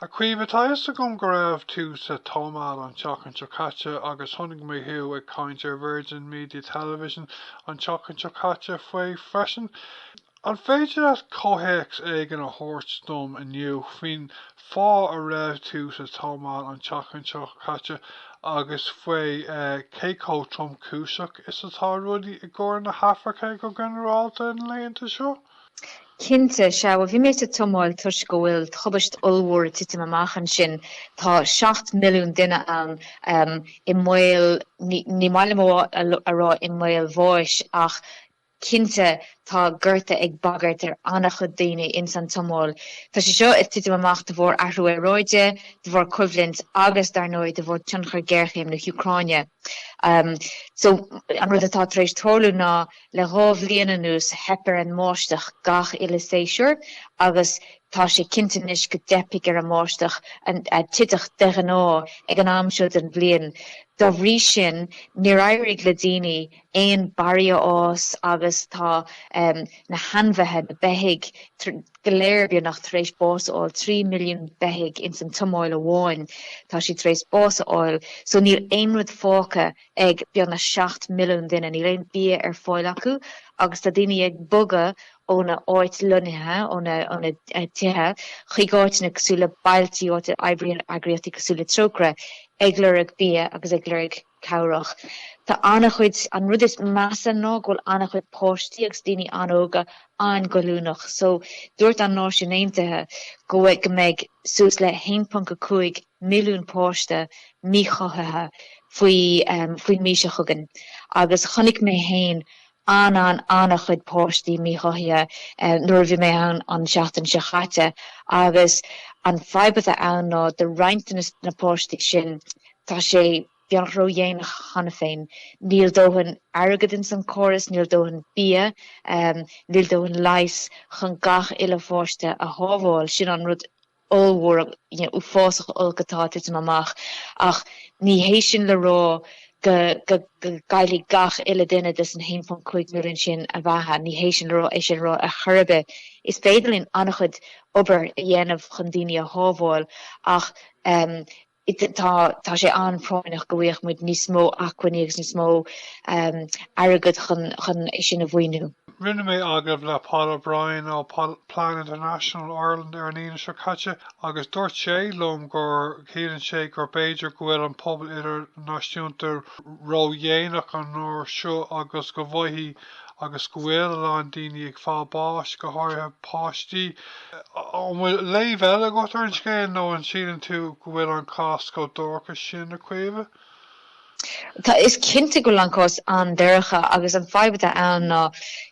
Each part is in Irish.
A Chaoimhe, tá fhios agam go raibh tú sa tSómáil an tseachtain seo caite agus chonaic mé thú ag caint ar Virgin Media Television an tseachtain seo caite faoi freisin. An féidir leat comhthéacs éigin a thabhairt dom inniu faoin fáth a raibh tú sa tSómáil an tseachtain seo caite agus faoi cé chomh tromchúiseach is atá rudaí i gCorn na hAfraice go ginearálta na laethanta seo? Cinnte, sea. Bhuel, bhí mé sa tSomáil toisc go bhfuil tubaiste ollmhór ag titim amach ansin. Tá seacht milliún duine ann i mbaol, ní maith liom a rá i mbaol bháis, ach cinnte tá gorta ag bagairt ar an-chuid daoine ins an tSomáil. Tá sé seo ag titim amach de bharr athrú aeráide, de bharr coimhlint agus, dar ndóigh, de bharr tionchar géarchéim na hÚcráine. So an rud atá tar éis tarlú ná le dhá bhliain anuas theip ar an mbáisteach gach uile séasúr agus tá sé cinnte anois go dteipfidh ar an mbáisteach a thiteadh de ghnáth ag an am seo den bhliain. Dá bhrí sin níor éirigh le daoine aon barraí a fhás agus tá na hainmhithe, na beithígh, go léir beagnach tar éis bás a fháil, trí milliún beithígh ins an tSomáil amháin tá siad tar éis bás a fháil, so níl aon rud fágtha ag beagnach seacht milliún duine, níl aon bia ar fáil acu agus tá daoine ag bogadh óna áit lonnaithe, óna dtithe, chuig áiteanna cosúil le bailtí, áit a oibríonn eagraíochtaí cosúil le Trócaire ag lorg bia agus ag lorg. cabhrach. Tá an-chuid, an rud is measa ná go bhfuil an-chuid páistí agus daoine an-óga an-ghoilliúnach so dúirt an Náisiúin Aontaithe go bhfuil go mbeidh suas le 1.5 milliún páiste míchothaithe faoi faoin mí seo chugainn agus chonaic mé féin an an an-chuid páistí míchothaithe nuair a bhí mé ann an tseachtain seo chaite agus an fadhb atá ann ná do roinnt de na páistí sin tá sé beagnach ró dhéanach cheana féin. Níl dóthain airgead ins an chóras, níl dóthain bia, níl dóthain leighis chun gach uile pháiste a shábháil, sin an rud ollmhór, uafásach olc atá ag titim amach ach ní hé sin le rá go, go, go gcaillfidh gach uile duine de san 1.5 milliún sin a bheatha, ní hé sin le rá, é sin le rá ar chor ar bith is féidir linn an-chuid obair a dhéanamh chun daoine a shábháil ach, um, tá tá sé an-phráinneach go bhfaigheadh muid níos mó acmhainní agus níos mó airgead chun é sin a mhaoiniú. Rinne mé agallamh le Paul O'Brien ó Plan International Ireland ar an Aoine seo caite agus dúirt sé liom go gceapann sé gur b'fhéidir go bhfuil an pobal idirnáisiúnta ródhéanach an uair seo agus go bhfaighidh agus go bhfuil a lán daoine ag fáil báis, go háirithe páistí. An bhfuil léamh eile agat ar an scéal nó an síleann tú go bhfuil an cás chomh dorcha sin, a Chaoimhe? Tá, is cinnte go bhfuil an cás an-dorcha agus an fadhb atá ann ná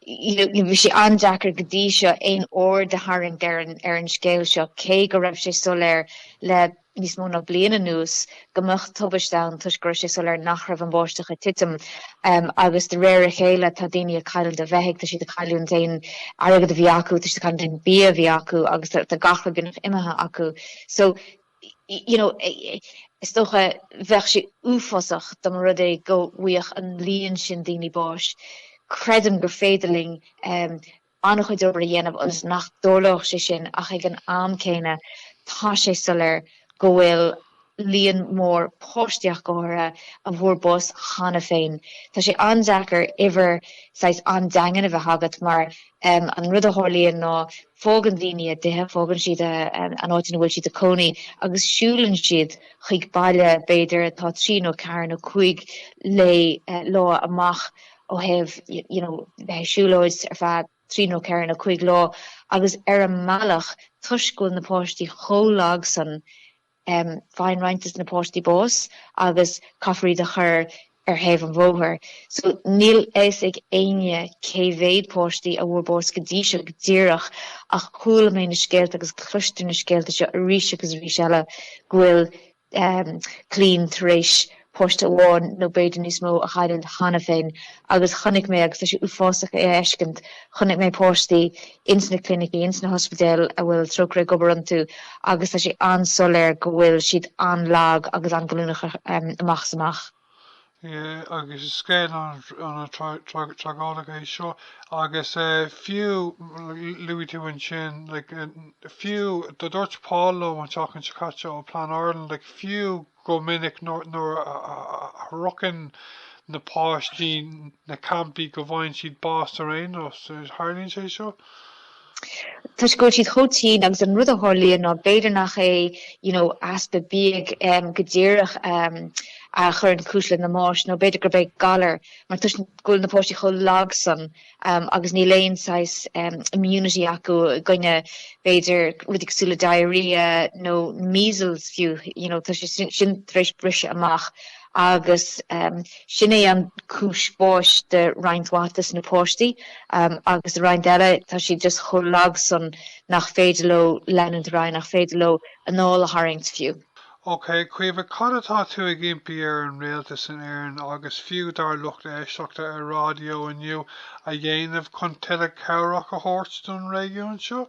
bhí sé an-deacair go dtí seo aon aird a tharraingt in aon chor ar an scéal seo cé go raibh sé soiléir le níos mó ná bliain anuas go mbeadh tubaiste ann toisc go raibh sé soiléir nach raibh an bháisteach ag titim agus de réir a chéile tá daoine ag cailliúint a mbeithígh, tá siad ag cailliúint aon airgead a bhí acu, tá siad ag cailliúint aon bia a bhí acu agus tá gach rud beagnach imithe acu. So you know, is dócha bheadh sé uafásach dá mba rud é go bhfaigheadh an líon sin daoine báis. Creidim gur féidir linn um, an-chuid obair a dhéanamh ionas nach dtarlódh sé sin ach ag an am céanna tá sé soiléir go bhfuil líon mór páistí ach go háirithe a bhfuair bás cheana féin. Tá sé an-deacair uimhir saghas an-daingean a bheith agat mar an rud a tharlaíonn ná fágann daoine a dtithe, fágann siad an áit ina bhfuil siad ag cónaí agus siúlann siad chuig baile b'fhéidir atá trí nó ceathair nó cúig lá amach ó thaobh, you know, siúlóid ar feadh trí nó ceithre nó cúig lá agus ar an mbealach toisc go bhfuil na páistí chomh lag san em, faigheann roinnt de na páistí bás agus caithfear iad a chur ar thaobh an bhóthair. So níl a fhios ag éinne cé mhéad páistí a bhfuair bás go dtí seo go díreach ach chuala mé na scéalta agus cloistear na scéalta seo arís agus arís eile go bhfuil clann tar éis páiste amháin nó b'fhéidir níos mó a chailliúint cheana féin agus chonaic mé, agus tá sé uafásach é a fheiscint, chonaic mé páistí ins na clinicí, ins na hospidéil a bhfuil Trócaire ag obair iontu agus tá sé an-soiléir go bhfuil siad an-lag agus an-ghoilliúnach amach is amach. agus is scéal an-tragóideach é seo agus fiú, luaigh tú ansin, like, fiú, dúirt Paul liom an tseachtain seo caite ó Plan Ireland, like, fiú go minic nuair a shroicheann na páistí na campaí go bhfaigheann siad bás ar aon nós. Tarlaíonn sé seo? toisc go bhfuil siad chomh tinn agus an rud a tharlaíonn ná b'fhéidir nach é you know easpa bia go díreach a chuireann cúis lena mbáis nó b'fhéidir gurb é galar mar toisc go bhfuil na páistí chomh lag san agus níl aon saghas immunity acu i gcoinne b'fhéidir rudaí cosúil le diarrhoea nó measles fiú you know tá sé sin tar éis briseadh amach agus sin é an cúis báis de roinnt mhaith de na páistí agus de roinnt eile tá siad just chomh lag sin nach féidir leo leanúint ar aghaidh, nach féidir leo anáil a tharraingt fiú. Ok, Caoimhe, cad atá tú ag impí ar an Rialtas in Éirinn agus fiú dár lucht éisteachta ar raidió inniu a dhéanamh chun tuilleadh cabhrach a thabhairt don réigiún seo?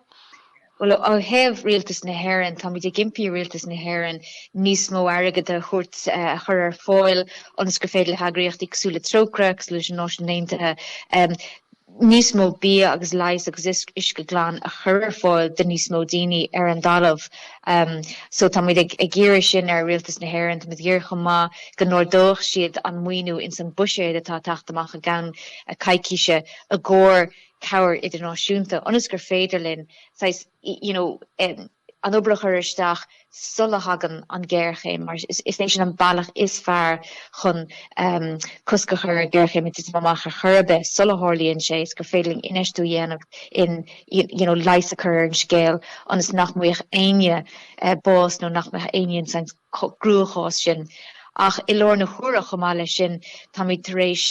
Bhuel, ó thaobh Rialtas na hÉireann, táimid ag impí ar Rialtas na hÉireann níos mó airgid a thabhairt, a chur ar fáil ionas gur féidir le heagraíochtaí cosúil le Trócaire, cosúil leis na Náisiúin Aontaithe, níos mó bia agus leighis agus uisce glan a chur ar fáil do níos mó daoine ar an dtalamh. So táimid ag iarraidh sin ar Rialtas na hÉireann. Táimid ag iarraidh chomh maith go n-ardóidh siad an maoiniú ins an buiséad atá ag teacht amach i gceann coicíse i gcomhair cabhair idirnáisiúnta ionas gur féidir linn saghas, you know, an obair a chur isteach sula thagann an géarchéim mar is é sin an bealach is fearr chun cosc a chur ar géarchéim ag titim amach ar chor ar bith sula tharlaíonn sé is gur féidir linn infheistiú a dhéanamh in, you know, leigheas a chur ar an scéal ionas nach mbeadh éinne ag fáil bháis nó nach mbeadh éinne in gcruachás mar sin. Ach i lár na huaire, chomh maith leis sin, táimid tar éis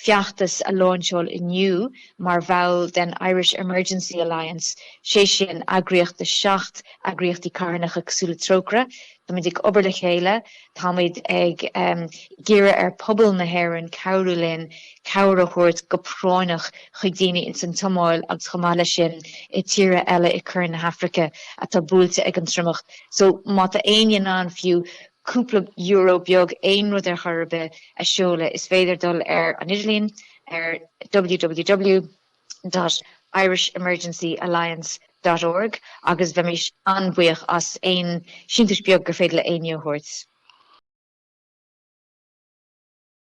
feachtas a láinseáil inniu mar bhall den Irish Emergency Alliance, sé sin, eagraíocht de seacht eagraíochtaí carthanacha cosúil le Trócaire. Táimid ag obair le chéile, táimid ag iarraidh ar pobal na hÉireann cabhrú linn cabhair a thabhairt go práinneach chuig daoine ins an tSomáil agus chomh maith leis sin i tíortha eile i Corn na hAfraice atá buailte ag an triomach. So má tá éinne in ann fiú cúpla euro beag, aon rud ar chor ar bith, a sheoladh is féidir dul ar an idirlíon ar ww. dot Irish Emergency Alliance. dot org agus bheimís an-bhuíoch as aon síntiús beag gur féidir le éinne a thabhairt.